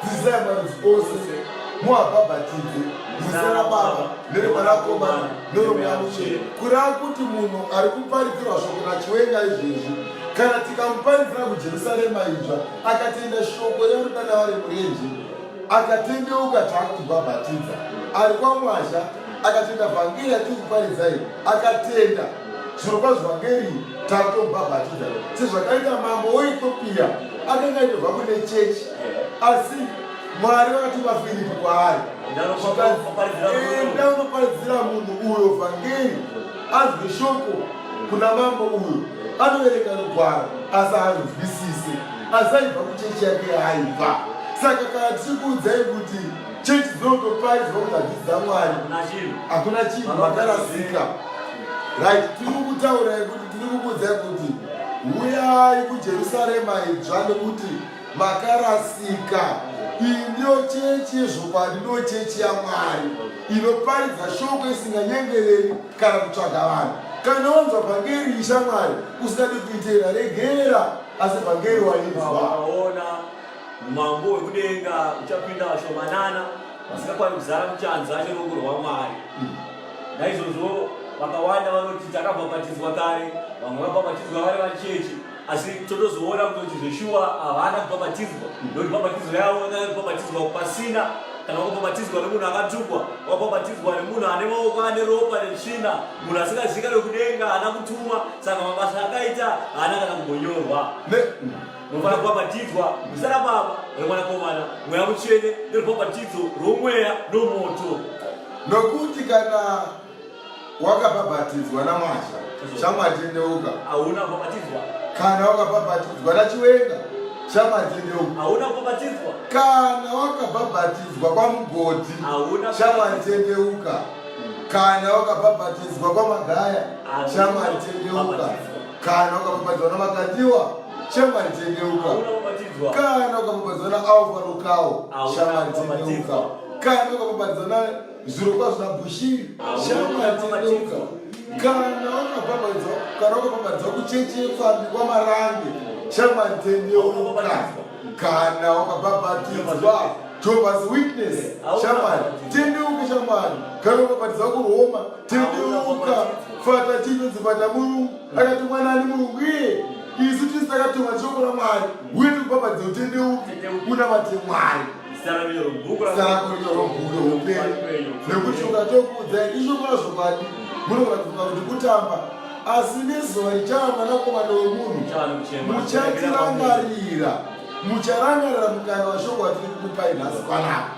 S1: dzidzisai marudzi ose muabhabhatidze muzita rababa neremwanakomana neromweya muchena kureva kuti munhu ari kuparidzirwa shoko nachiwenga izvezvi kana tikamuparidzira kujerusarema idzva akatenda shoko rerudanava remurenje akatendeuka taakutibhabhatidza ari kwamwazha akatenda vhangeri yatiri kuparidzai akatenda zviro kwazvo vhangeri takutobhabhatidza sezvakaita mambo weethiopia akanga aitobva kune chechi asi mwari vakatuma firipi kwaari enda unoparidzira munhu uyo vhangeri azwe shoko kuna mambo uyo anoverenga rugwaro asi haanzwisise asi aibva kuchechi yake yaaibva saka kana tichikuudzai kuti Chechi dzinotoparidzwa kuti hadzisi dzaMwari, hakuna chinhu makarasika. Right, tiri kukutaura yekuti tiri kukuudza kuti huyai kujerusarema idzva nekuti makarasika iyi ndiyo chechi yezvokwadi ndiyo chechi yamwari inoparidza shoko isinganyengereri kana kutsvaga vanhu kana wanzwa vhangeri ishamwari usingadi kuiteera regera asi vhangeri wainzwa
S2: Umambo hwekudenga uchapinda vashomanana vasingakwani kuzara muchanza cherongo rwaMwari. Naizvozvo vakawanda vanoti takabhabhatidzwa kare, vamwe vabhabhatidzwa vari vachechi, asi totozoona kuti zveshuwa havana kubhabhatidzwa nokuti bhabhatidzo yavo yanga kubhabhatidzwa pasina kana wakabhabhatidzwa nemunhu akatukwa, wakabhabhatidzwa nemunhu ane maoko ane ropa netsvina, munhu asingazivikanwe kudenga, haana kutumwa, saka mabasa akaita haana kana kumbonyorwa. Munofanira kubhabhatidzwa muzita raBaba, reMwanakomana, Mweya Mutsvene, nerubhabhatidzo rwomweya nomoto. Nokuti
S1: kana
S2: wakabhabhatidzwa
S1: naMwazha, chamwatendeuka. Hauna kubhabhatidzwa.
S2: Kana
S1: wakabhabhatidzwa naChiwenga, chamwatendeuka. Hauna kubhabhatidzwa.
S2: Kana
S1: wakabhabhatidzwa kwaMugodhi, chamwatendeuka. Kana wakabhabhatidzwa kwaMagaya, chamwatendeuka. kana ukakubadzwa na makatiwa shamwari tendeuka kana ukakubadzwa na alvarokawo shamwari tendeuka kana ukakubadzwa na zvirokwazvo na bushiri shamwari tendeuka kana ukabhabhadzwa kana ukabhabhadzwa kuchechi yepfambi kwamarange shamwari tendeuka kana ukabhabhatidzwa jobas witness shamwari tendeuka shamwari kana ukabhabhadzwa kuroma tiriuka fata chinonzi fata murungu akatumwa nani murungu iye isu tisi takatumwa shoko ramwari uye tikubhabhadze utendeuki kuna vate mwari nekuti ukatokuudzai ishoko razvokwadi munogona kufunga kuti kutamba asi nezuva richava mwanakomana wemunhu muchatirangarira mucharangarira mukana washoko watiri kukupai nhasi panapa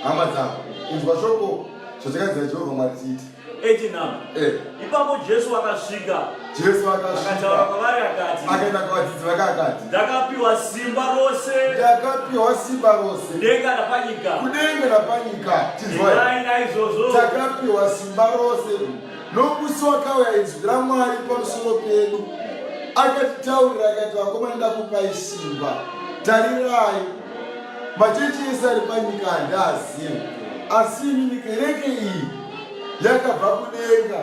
S1: hama dzavo inzwa shoko zvatakadzira jehovha mwari tiite 8 now eh.
S2: ipapo jesu akasvika jesu akataura
S1: kwavari akati
S2: akaenda kuvadzidzi vake
S1: akati ndakapiwa simba
S2: rose ndakapiwa simba rose
S1: kudenga napanyika kudenga napanyika tizwai naizvozvo takapiwa simba rose nokusi wakauya inzwi ramwari pamusoro pedu akatitaurira akati vakomana ndakupai simba tarirai machechi ese ari panyika handaazivi asi inini kereke iyi yakabva kudenga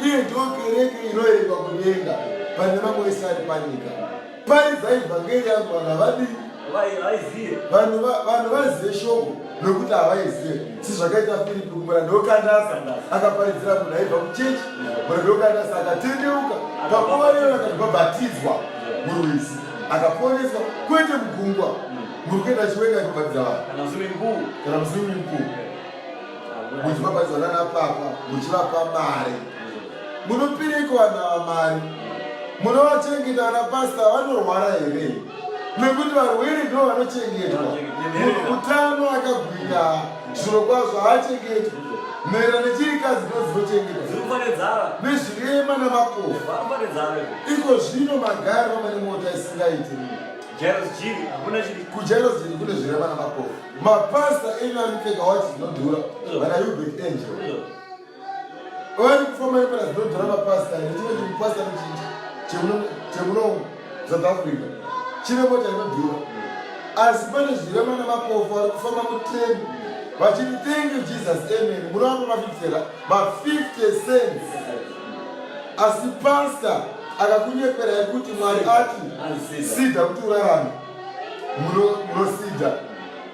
S1: iye ndiwo kereke inoerengwa kudenga pane mamwe ese ari panyika paridza ivhangeri yangu vana vadii vanhu vaizive shoko nokuti havaizive sezvakaita firipi kumura ndokandasa akaparidzira munhu aibva kuchechi mura ndokandasa akatendeuka pakuvarero akati vabhatidzwa murwizi akaponeswa kwete mugungwa muri kuenda chiweka kubhadhira vanhu kana muswimming pool muchivabhadhira nana papa muchivapa mari munopireiko vanhu ava mari munovachengeta vana pasta vanorwara here nekuti varwere ndo vanochengetwa munhu mutano akagwira zviro kwazvo haachengetwe maererano nechirikadzi dzinozochengetwa nezvirema namakofa iko zvino magari vamane mota isingaiti kujairos jiri kune zvirema namakofa mapasta enyu ari kupfeka wachi dzinodhura vana ubek angel Ori kufoma yepera zvinodhara mapasta ine chimwe chimupasta nechinji chemuno South Africa chine mota inodhura asi pane zvirema nemapofu ari kufamba mutreni vachiti thank you Jesus amen muno vako mafifitera ma 50 cents asi pasta akakunyepera yekuti mwari ati sida kuti urarame munosida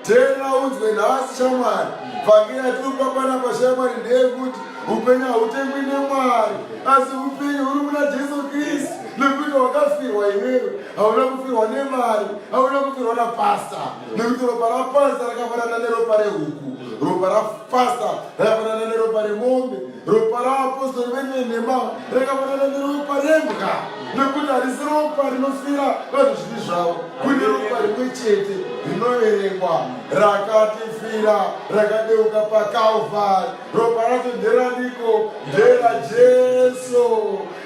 S1: Tena unzwe nhasi shamwari, vhangeri yatiripa panapa shamwari ndeyekuti upenyu hautengwi nemwari, asi upenyu huri muna Jesu Kristu nekuti wakafirwa iwewe, hauna kufirwa nemari, hauna kufirwa napasta, nekuti ropa rapasta rakafanana neropa rehuku, ropa rapasta rakafanana neropa remombe. ropa raapostori venyu venhema rakafanana neropa rembwa nekuti harisi ropa rinofira vanhu zvivi zvavo kune ropa rimwe chete rinoverengwa rakatifira rakadeuka pakalvari ropa racho nderaniko ndera jesu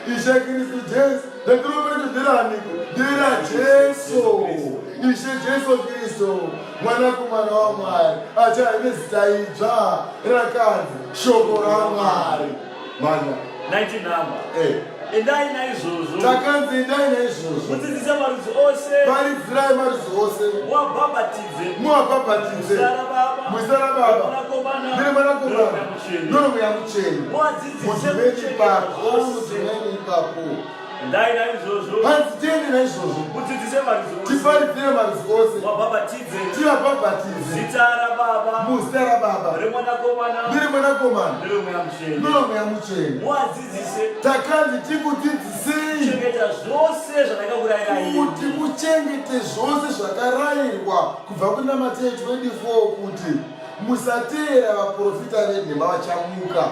S1: ishe kristu jesu nekuropa racho nderaniko ndera jesu ishe jesu kristu mwanakomana wamwari achava nezita idzva rakanzi shoko ramwari mana 19 number
S2: eh. endai naizvozvo takanzi endai
S1: naizvozvo mudzidzise marudzi
S2: ose paridzirai marudzi
S1: ose muwabhabhatidze muwabhabhatidze muzara baba ndiri mwanakomana noromweya mucheni mudzidzise mucheni ipapo Ndai
S2: naizvozvo. Hanzi tiende naizvozvo.
S1: Udzidzise marudzi ose.
S2: Tiparipire marudzi ose.
S1: Wabhabhatidze. Tivabhabhatidze. Zita
S2: raBaba. Muzita raBaba.
S1: Remwanakomana. Neremwanakomana. Neremweya mutsvene. Neremweya mutsvene. Muadzidzise. Takanzi tikudzidzisei. Kuchengeta zvose zvandakakurayirai. Kuti muchengete zvose zvakarairwa kubva kunamateto 24 kuti musateera vaprofita venhema vachamuka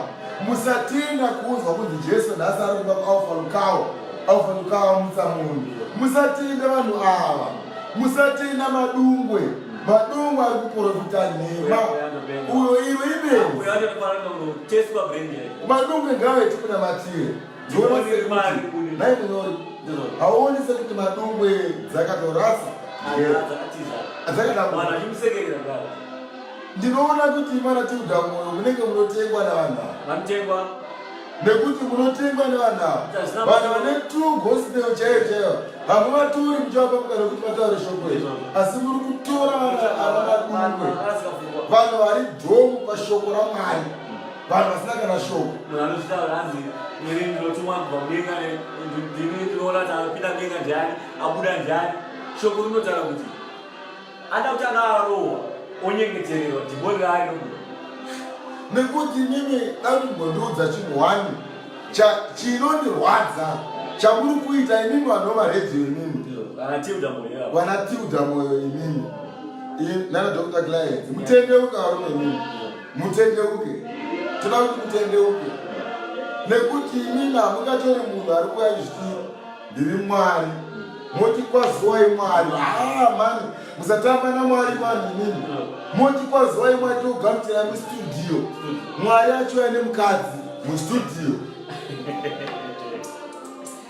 S1: musatenda kunzwa kunzi jesu nhasi ari kuba kualfa lukawo alfa lukawo amutsa munhu musatenda vanhu ava musatenda madungwe madungwe ari kuprofita nhema uyo iwe ibenzi madungwe ngavetikunamatire hauonise kuti madungwe dzakatorasa ndinoona kuti mana tiuda moyo munenge munotengwa navanhu ava nekuti munotengwa nevanhu ava vanhu vane tu gospel chaiyo chaiyo hamuvatori muchivapa mukana kuti vataure shoko iri asi muri kutora vana ava vadungwe vanhu vari dhomu pashoko ramwari vanhu vasina kana shoko munhu anozvitaura hanzi mwiri ndinotumwa kubva mudenga ndimi ndinoona
S2: kuti anopinda mudenga ndiani abuda ndiani shoko rinotaura kuti ada kuti akarohwa onyengetererwa dhimoni raari nobuda
S1: nekuti mimi dakumbondiudza chinhu wani chinondirwadza chamuri kuita imimi vanhu vamaredhiyo imimi vanatilda moyo imimi nana dr client mutendeuka varume imimi mutendeuke toda kuti mutendeuke nekuti imina mungatori munhu ari kuya chiti ndiri mwari moti kwazuwai mwari haa mani musatamba namwari mani inini moti kwazuwai mwari togamuchira mustudio mwari achiuya nemukadzi mustudio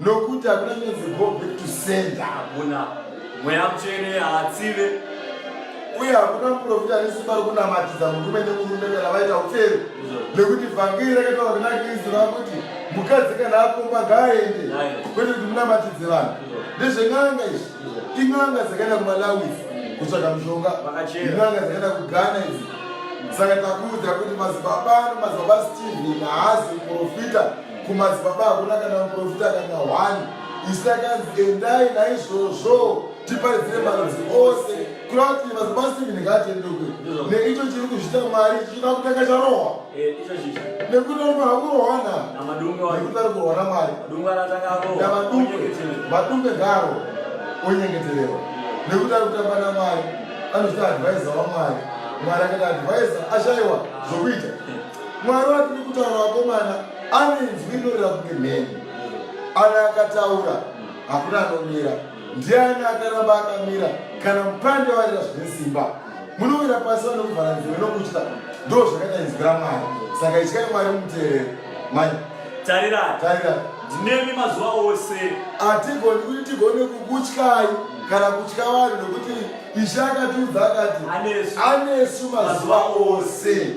S1: nokuti hakuna chinonzi go back to sender hakuna mweya
S2: mutsvene haatsive uye
S1: hakuna muprofita ane simba rokunamatidza murume nemurume kana vaita upferi nekuti vhangeri rakataura kuna kristu rakuti mukadzi kana akomba ngaaende kwete kuti munamatidze vanhu ndezven'anga izvi in'anga dzakaenda kumalawi kutsvaga mushonga in'anga dzakaenda kughana idzi saka takuudza kuti mazibaba ano mazibaba steve haazi muprofita kumadzibaba hakuna kana muprofita kana hwani isakanzi endai naizvozvo tiparidzire marudzi ose kuda kuti mazibasivini ngaatendekwe neicho chiri kuzvita mwari chichida kutanga charohwa eh, nekuti anofanira kurohwana nekuti ari kurohwana mwari navadumbe vadumbe ngaro onyengeterero nekuti ari kutamba namwari anochita advaisa wamwari mwari akati advaisa ashaiwa zvokuita mwari watiri kutaura vakomana anenzwi rinorira kunge mheni ana akataura hakuna anomira ndiani akaramba akamira kana mupande warira zvine simba munowira pasi vanokuvhara nziwe nokutya ndo zvakaita inzwi ramwari saka ityai mwari muteereri manya tarira
S2: tarira ndinemi mazuva ose hatigoni kuti
S1: tigone kukutyai kana kutya vanhu nokuti ishe akatiudza akati anesu mazuva ose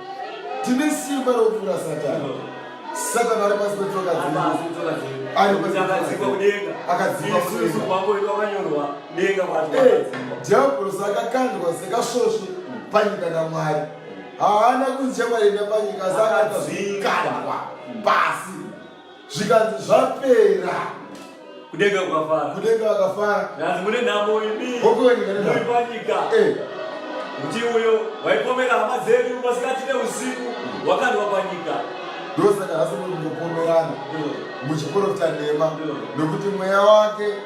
S1: tine simba rokupfuura satani satani ari pasi petsoka
S2: dzeakadzidhiabhorosi
S1: eh, akakandwa sekasvosvi panyika namwari haana kunzemwaenda panyika asi akatazvikandwa pasi zvikanzi zvapera kudenga
S2: kukafara kudenga vakafara ndanzi mune nhamo imi muri panyika eh. kuti uyo waipomera hama dzedu masikati neusiku wakandwa panyika ndosaka hasi
S1: muri kungopomerana muchiporofita nhema nokuti mweya wake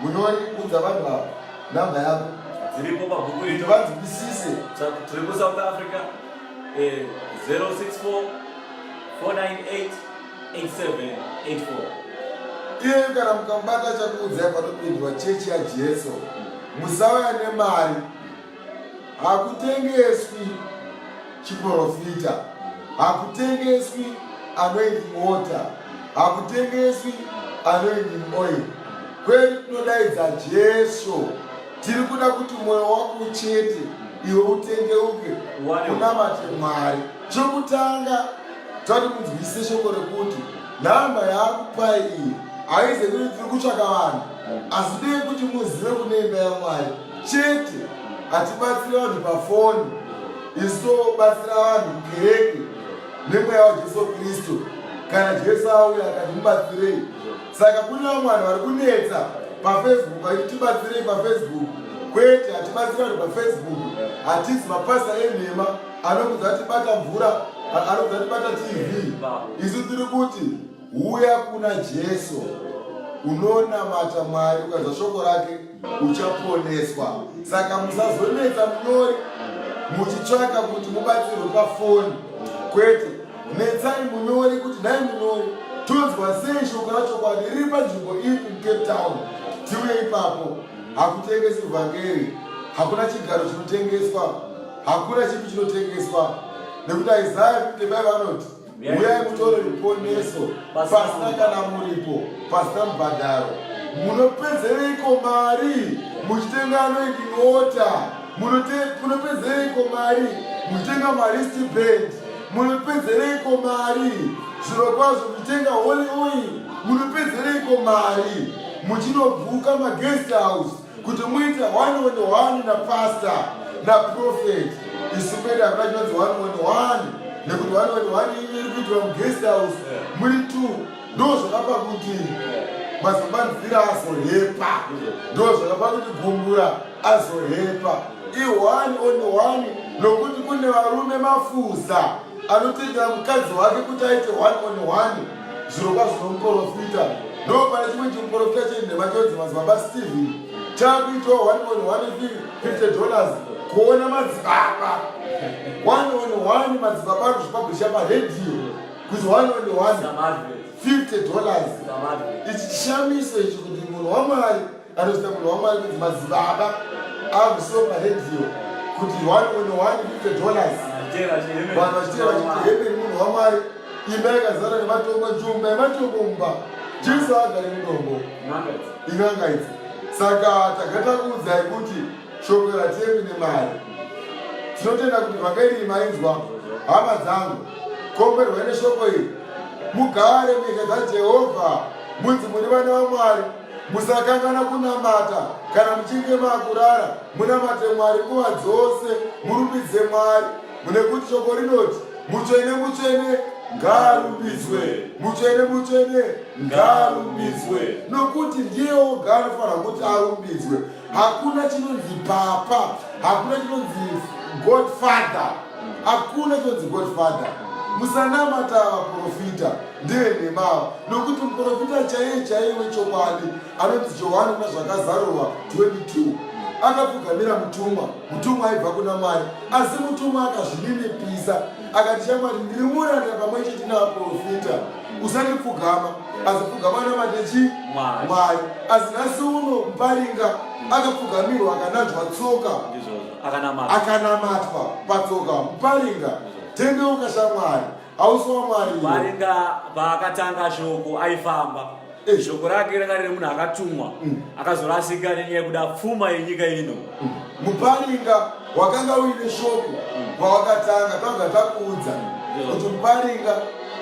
S1: munori kudza vanhu vavo namba yavo dziripo pabhuku
S2: iri vanzwisise
S1: tiri kusouth
S2: africa 064 498
S1: 8784 iye kana mukabata chakuudzai patopindwa chechi yajesu musauya nemari hakutengeswi chiporofita hakutengeswi anoidi mota hakutengeswi anoidi moyo kweli tinodaidza jesu tiri kuda kuti mwoyo wako uchete iwe utendeuke unamate mwari chokutanga tati munzwise shoko rekuti nhamba yaakupai iyi haize kuti tiri kutsvaka vanhu asi dei kuti muzive kune imba yamwari chete hatibatsiri vanhu pafoni isu tobatsira vanhu mukereke nemweya wajesu kristu kana jesu auya akati mubatsirei saka kune vamwe vanhu vari kunetsa pafacebook vaiti tibatsirei pafacebook kwete hatibatsiri vanhu pafacebook hatizi mapasa enhema anokudza tibata mvura anokudza tibata tv isu tiri kuti uya kuna jesu unonamata mwari ukanzwa shoko rake uchaponeswa saka musazonetsa munyori muchitsvaka kuti mubatsirwe pafoni kwete netsai munyori kuti nhai munyori tonzwa sei shoko rachokwadi riri panzvimbo ipi mucape town tiuye ipapo hakutengesi vhangeri hakuna chigaro chinotengeswa hakuna chipi chinotengeswa nekuti isaya 55 anoti uyai mutore ruponeso pasina kana muripo pasina mubhadharo munopezereiko mari muchitenga anoiti mota munopezereiko mari muchitenga maristi band munopezereiko mari zviro kwazvo muchitenga holy oil munopezereiko mari muchinobvuka maguest house kuti muite one on one napastor naprofet isu kwedu hakuna chinonzi one on one nekuti one on one iri kuitwa muguest house muri two ndo zvakapa kuti mazobanzira azohepa ndo zvakapa kuti gumbura azohepa ione on one nokuti kune varume mafuza anotoita mukadzi wake kuti aite one on one zvirokwazvo nomuporofita ndopane chimwe chimuporofita chenhema chonzi madzibaba stephen chakuitawo 1.150 dollars kuona madzibaba 1.1 madzibaba ari kuzvipabhusha paredhiyo kuti 1.1 50 dollars ichi chishamiso ichi kuti munhu wamwari Anoita munhu wamwari kuti madzibaba akusiwa paredio kuti one on one fifty dollars vanhu vachitira vachiti hemeni munhu wamwari imba yakazara nematombo njumba yematombo mumba jesu agari mudombo in'anga idzi saka tagata kuudzai kuti shoko ratemi nemari tinotenda kuti vakairi mainzwa hama dzangu komberwai neshoko iri mugare munyika dzajehovha munzi muri vana vamwari musakan'ana kunamata kana muchinge makurara munamate mwari nguva dzose murumbidze mwari mune kuti shoko rinoti mutsvene mutsvene ngaarumbidzwe mutsvene mutsvene ngaarumbidzwe nokuti ndiye oga anofanira kuti arumbidzwe hakuna chinonzi papa hakuna chinonzi godfather hakuna chinonzi godfather musanamata vaprofita ndeyenhemawo nokuti muprofita chaiye chaiye wechokwadi anonzi johani kuna zvakazarurwa 22 akapfugamira mutumwa mutumwa aibva kuna mwari asi mutumwa akazvininipisa akati chamwari ndiri muranda pamwe chete navaprofita usandipfugama asi pfugama namatechi mwari asi nhasi uno muparinga akapfugamirwa akananzwa tsoka akanamatwa patsoka muparinga tendeuka shamwari hausi wamwari varinga
S2: paakatanga shoko aifamba eh. shoko rake ranga rine munhu akatumwa mm. akazorasika nenyaya yekuda pfuma yenyika ino mm. muparinga
S1: wakanga uine shoko pawakatanga mm. tanga takuudza kuti muparinga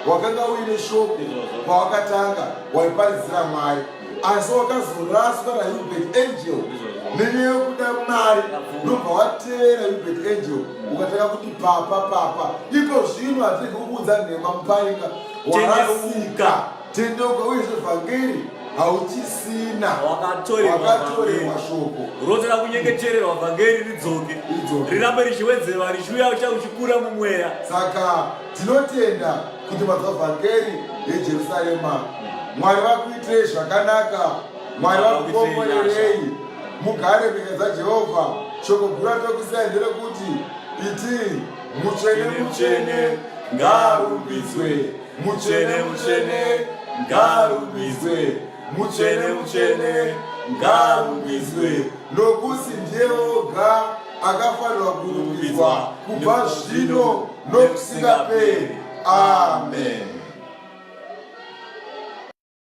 S1: wakanga uine shoko pawakatanga waiparizira mwari asi wakazoraswa nahubert angel nene yokuda mari unobva watevera hubert angel ukatanga kuti papa papa iko zvino hatiri kukuudza nhema mupainga warasika tendeuka uye zvevhangeri hauchisina wakatorerwa
S2: shoko
S1: unotoda kunyengetererwa
S2: vhangeri ridzoke rirambe richiwedzerwa richiuya ucha uchikura mumweya saka
S1: Tinotenda kuti mazwa vhangeri reJerusarema. Mwari vakuitirei zvakanaka. Mwari vakukomborerei. Mugare mhika dzaJehovha. Shoko guru ratokusai nderekuti iti mutsvene mutsvene ngaarumbidzwe mutsvene mutsvene ngaarumbidzwe mutsvene mutsvene ngaarumbidzwe nokuti ndiye oga akafanirwa kurumbidzwa kubva zvino nokusingaperi. Amen.